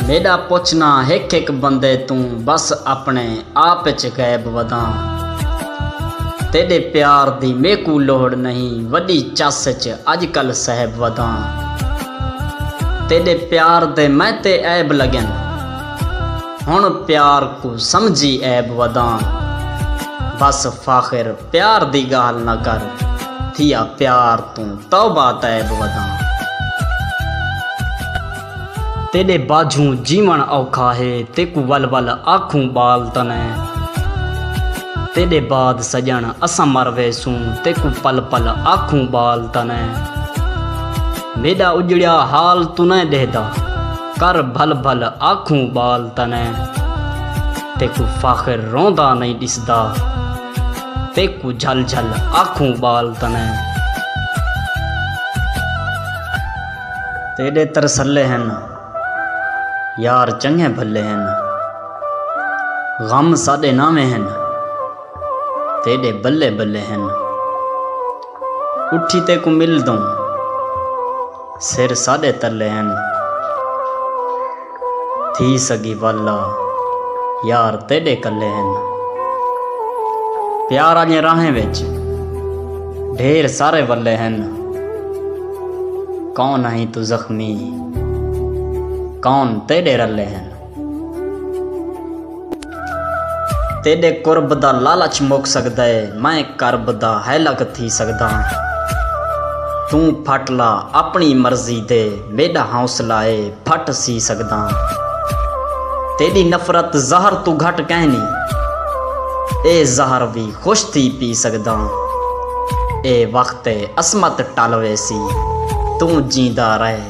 میݙا پچھناں ہک ہک بندے توں بس اپݨے آپ اچ غیب وداں تیݙے پیار دی میکوں لوڑھ نہیں وݙی چس اچ اڄ کل صیب وداں تیݙے پیار دے میں تے عیب لڳن ہݨ پیار کوں سمجھی عیب وداں بس فاخر پیار دی گالھ نہ کر تھیا پیار توں توبہ تائب وداں۔ تیڈے باجھوں جیون اوکھا ہے تیکوں ول ول آکھوں بال تنیں۔ تیڈے بعد سجن اساں مر ویسوں تیکوں پل پل آکھوں بال تنیں۔ میڈا اجڑیا حال تنیں ڈہدا کر بھل بھل آکھوں بال تنیں۔ تیکوں فاخر روندا نئیں ڈسدا۔ تیکوں جھل جھل آکھوں ٻال تݨیں تیݙے ترسلے ہن یار چنڳے بھلے ہن غم ساݙے ناویں ہن تیݙے بلے بلے ہن اٹھی تیکوں ملدوں سر ساݙے تلے ہن تھی سڳی ول آ یار تیݙے کلے ہن پیار آلیاں راہیں وچ ڈھیر سارے ولے ہن کون ہیں توں زخمی کون تیݙے رلے ہن۔ تیݙے قرب دا لالچ مک سڳدا ہے میں کرب دا ہیلک تھی سڳداں توں پھٹ لا اپݨی مرضی دے میݙا حوصلہ ہے پھٹ سی سڳداں تیݙی نفرت زہر توں گھٹ کینی اے زہر وی خوش تھی پی سڳداں اے وخت ہے عصمت ٹل ویسی توں جیندا رہ